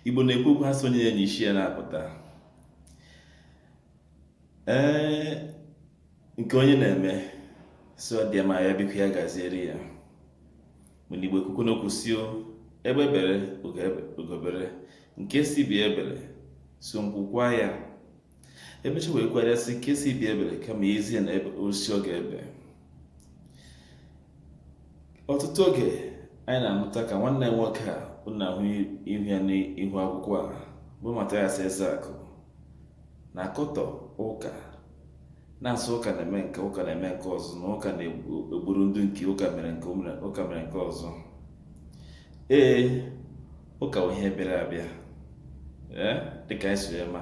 Igbo na-ekwu okwu ha sị onye ya na isi ya na-apụta ee nke onye na-eme sị ọ dị ya mma ya biko ya gaziere ya mana Igbo ekwukwu n'okwu sị egbe bere ugo bere nke sị ibe ya ebere sị nku kwaa ya emecha wee kwuharịa sị nke sị ibe ya ebere kama e zi ya n'osisi ọ ga-ebe ọtụtụ oge anyị na-anụta ka nwanne nwoke a unu na-ahụ ihu ya n'ihu akwụkwọ a bụ Mathias Ezeaku na-akọtọ ụka na-asị ụka na-eme nke a ụka na-eme nke ọzọ na ụka na-egburu ndị nke ụka mere nke ụka mere nke ọzọ ee ụka bụ ihe bịara abịa eh, dịka anyị si ma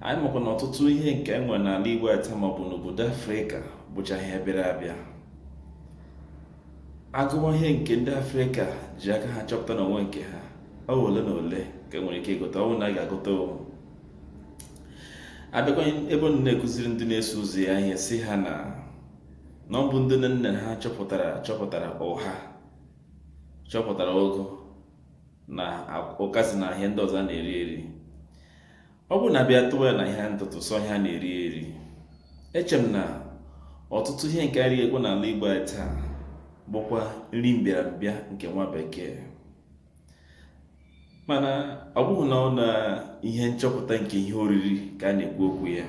anyị makwa na ọtụtụ ihe nke e nwere n'ala Igbo taa maọbụ n'obodo Afrịka bụcha ihe bịara abịa agụwa ihe nke ndị Afrịka ji aka ha chọpụta n'onwe nke ha ọ ole na ole ka e nwere ike ịgụta ọ bụ na a ga-agụta abịakwa ebe ọ na-ekụziri ndị na-eso ụzọ ya ihe sị ha na na ọ bụ ndị nne ha chọpụtara chọpụtara ụha chọpụtara ụgụ na ụkazị na ihe ndị ọzọ a na-eri eri ọ bụrụ na a bịa tụwa ya na ihe ntụtụ sọ ihe a na-eri eri eche m na ọtụtụ ihe nke e righakwa n'ala Igbo anyị taa bụkwa nri mbịarambịa nke nwa bekee mana ọ bụghị naanị ihe nchọpụta nke ihe oriri ka a na-ekwu okwu ya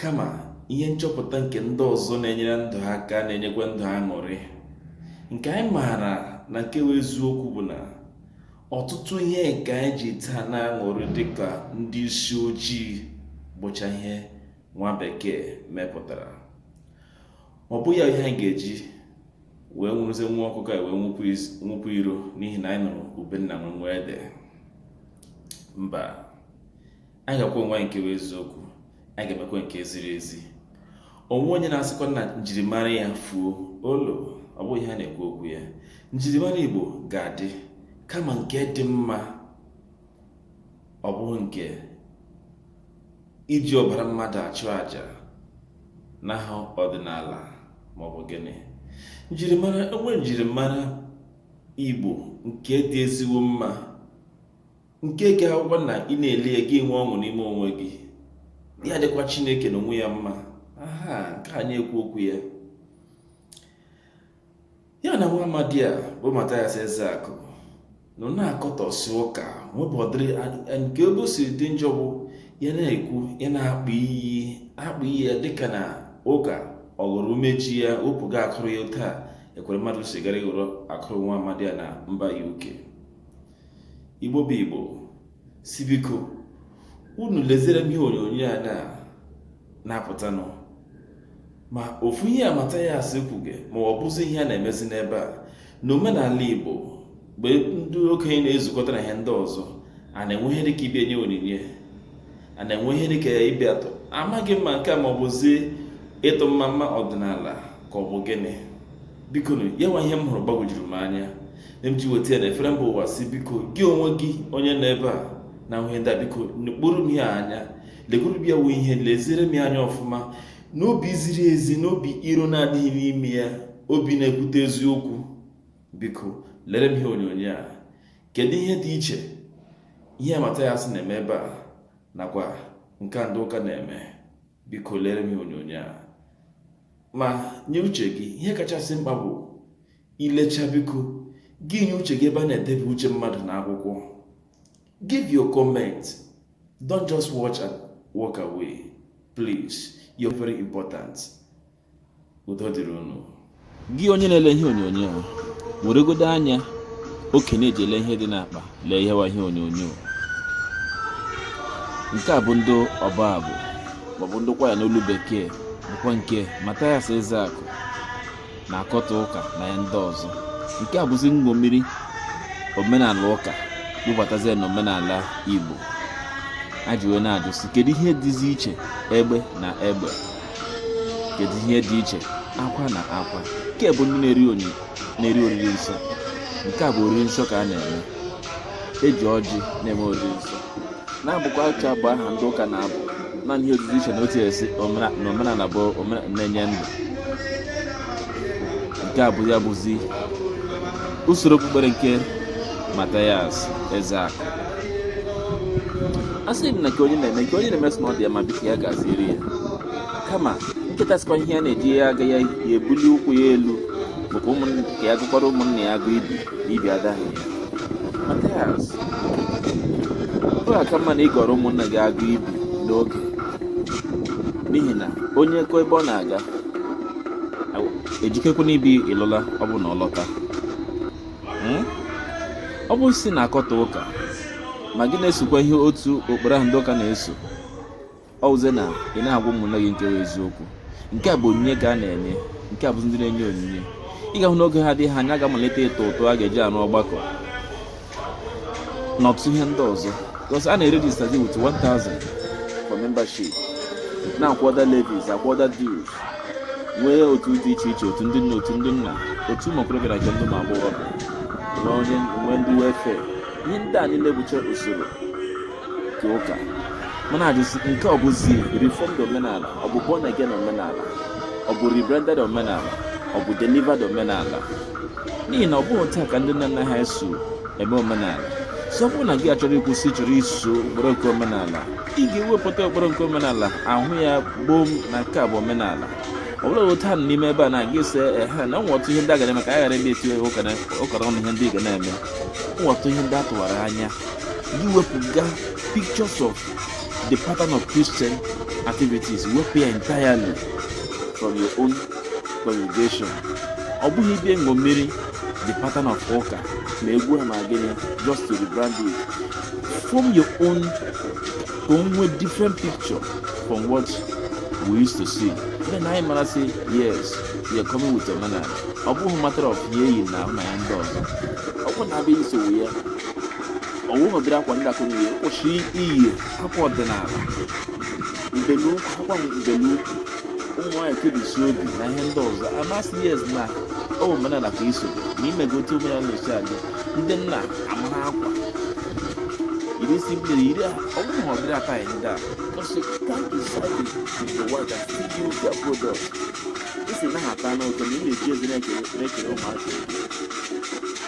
kama ihe nchọpụta nke ndị ọzọ na-enyere ndụ aka na-enyekwa ndụ aṅụrị nke anyị maara na nke bụ eziokwu bụ na ọtụtụ ihe nke anyị ji taa na-aṅụrị dịka ndị isi ojii bụcha ihe nwa bekee mepụtara ọ bụ ya ihe anyị ga-eji wee nwụrụzie nwa ọkụkọ wee nwụpụ iro n'ihi na anyị nụrụ ube nna nwe nwa ede mba anyị ga-agwa onwe anyị nke bụ eziokwu anyị ga-emekwa nke ziri ezi o nweghị onye na-asịkwa na njirimara ya fuo olo ọ bụghị ihe a na-ekwu okwu ya njirimara igbo ga-adị kama nke dị mma ọ bụghị nke iji ọbara mmadụ achụ àjà n'aha ọdịnala maọbụ gịnị njirimara o nwere njirimara igbo nke dị ezigbo mma nke ga-abụkwa na ị na-ele ya gị enwe ọṅụ n'ime onwe gị ya dịkwa chineke na onwe ya mma ọ ha ka a na-ekwu okwu ya ya na nwa amadi a bụ Mathias Ezeaku nọ na-akọtọsị ụka nwebụ ọdịrị nke ebe o siri dị njọ bụ ya na-ekwu ya na-akpọ iyi akpọ iyi ya dịka na ụka ọ ghọrọ umeji ya wepụga akụrụ ya otu a Ekweremadu si gara ịghọrọ akụrụ nwa amadi a na mba UK igbo bụ igbo sị biko unu lezere m ihe onyonyo a na na-apụtanụ ma ofu ihe a Mathias kwuge ma ọ bụzi ihe a na-emezi n'ebe a na omenala igbo mgbe ndị okenye na-ezukọta na ihe ndị ọzọ a na-enwe ihe dịka ịbịa nye onyinye a na-enwe ihe dịka ịbịa tụọ amaghị m ma nke a ma ọ bụzi ịtụ mmamma ọdịnala ka ọ bụ gịnị biko ya nwa ihe m hụrụ gbagwojuru m anya m ji weta ya na efere mba ụwa sị biko gị onwe gị onye nọ ebe a na ihe ndị a biko kpụrụ m ya anya legoro ya wee ihe leziere m ya anya ọfụma n'obi ziri ezi n'obi iro na-adịghị n'ime ya obi na-ekwute eziokwu biko lere m ihe onyonyo a kedu ihe dị iche ihe Mathias na-eme ebe a nakwa nke ndị ụka na-eme biko lere m ihe onyonyo a ma nye uche gị ihe kachasị mkpa bụ Ịlecha biko gị nye uche gị ebe a na-edebe uche mmadụ na akwụkwọ. Give your comment. Don't just watch and walk away. Please, you're very important. Udo dịrị unu. Gị onye na-ele ihe onyonyo a weregodo anya okenye eji ele ihe dị n'akpa lee ihe wa ihe onyonyo nke a bụ ndị ọbụ abụ maọbụ ndị kwaya n'olu bekee bụkwa nke Mathias Ezeaku na-akọtọ ụka na ya ndị ọzọ nke a bụzi nṅomiri omenala ụka bubatazie na omenala igbo a ji wee na-ajụ sị kedu ihe dịzi iche egbe na egbe kedu ihe dị iche akwa na akwa nke a bụ ndị na-eri onyi na-eri oriri nsọ nke a bụ oriri nsọ ka a na-eme eji ọjị na-eme oriri nsọ na-abụkwa otu abụ ahụ ndị ụka na-abụ naanị ihe ọ dịzi iche na otu esi omena- na omenala bụ omena- na-enye ndụ nke a bụ ya bụzi usoro okpukpere nke Mathias Ezeaku a sị m na nke onye na-eme nke onye na-eme sị na ọ dị ya ma biko ya gaziere ya kama nkịta sịkwa ihe ya na-eji ya aga ya ya ebuli ụkwụ ya elu maka ụmụ- ka ya gọkwara ụmụnna ya agọ ibi Ibi adaghị ya Mathias ọ ga-aka mma na ị gọrọ ụmụnna gị agọ ibi n'oge n'ihi na onye kọ ebe ọ na-aga ejikekwana ibi ịlụla ọ bụ na ọ lọta hmm? ọ bụ ị sị na-akọtọ ụka ma gị na-esokwa ihe otu okporo ahụ ndị ụka na-eso ọ wụzie na ị na-agwa ụmụnne gị nke eziokwu nke a bụ onyinye ka a na-enye nke a bụzi ndị na-enye onyinye ị ga-ahụ n'oge na-adịghị anya a ga-amalite ịtụ ụtụ a ga-eji arụ ọgbakọ na ọtụtụ ihe ndị ọzọ because a na-erejista gị with 1000 for membership na-akwụ other levies akwụ other dues nwee otu dị iche iche otu ndị nna otu ndị nne otu ụmụ okorobịa na nke ndị ụmụ agbọghọ nwee ndị welfare ihe ndị a niile bụcha usoro nke ụka mana a jụ sị nke ọ bụzi reformed omenala ọ bụ born again omenala ọ bụ rebranded omenala ọ bụ delivered omenala n'ihi na ọ bụghị taa ka ndị nna nna ha eso eme omenala so ọ bụrụ na gị achọrọ ịkwụsị chọrọ iso ụkpụrụ nke omenala ị ga-ewepụta ụkpụrụ nke omenala ahụ ya gboo na nke a bụ omenala ọ bụla otu ha n'ime ebe a na-aga ese ehe na nwa ọtụ ihe ndị a ga-eme ka a ghara ebe etinye ụkara ọnụ ihe ndị ị ga na-eme nwa ọtụ ihe ndị a tụwara anya gị wepụga pictures of the pattern of Christian activities wepụ ya entirely from your own congregation ọ bụghị ịbịa ṅomiri the pattern of ụka ma egwu ha ma gịnị just to rebrand it form your own ka o nwee different picture from what we used to see then anyị mara sị yes we are coming with omenala ọ bụghị matter of ihe e yi n'ahụ na ihe ndị ọzọ ọ bụ na a bịa isowe ya ọ wụ a bịara akwa ndị akụrụ ihe kwụsị iyi akwa ọdịnala mbelukwu akwa mbelukwu ụmụ nwaanyị kebisi obi na ihe ndị ọzọ a ma sị yes na ọ bụ omenala ka i so na i mego otu omenala na-esi adị ndị nna amara akwa iri isi mmiri iri a ọ bụrụ na ọ bịara aka anyị ndị a because you can't decide with the world and still use their product isi na-ata n'ụtọ na ị na-eji ezi na-ekere na-ekere ụmụaka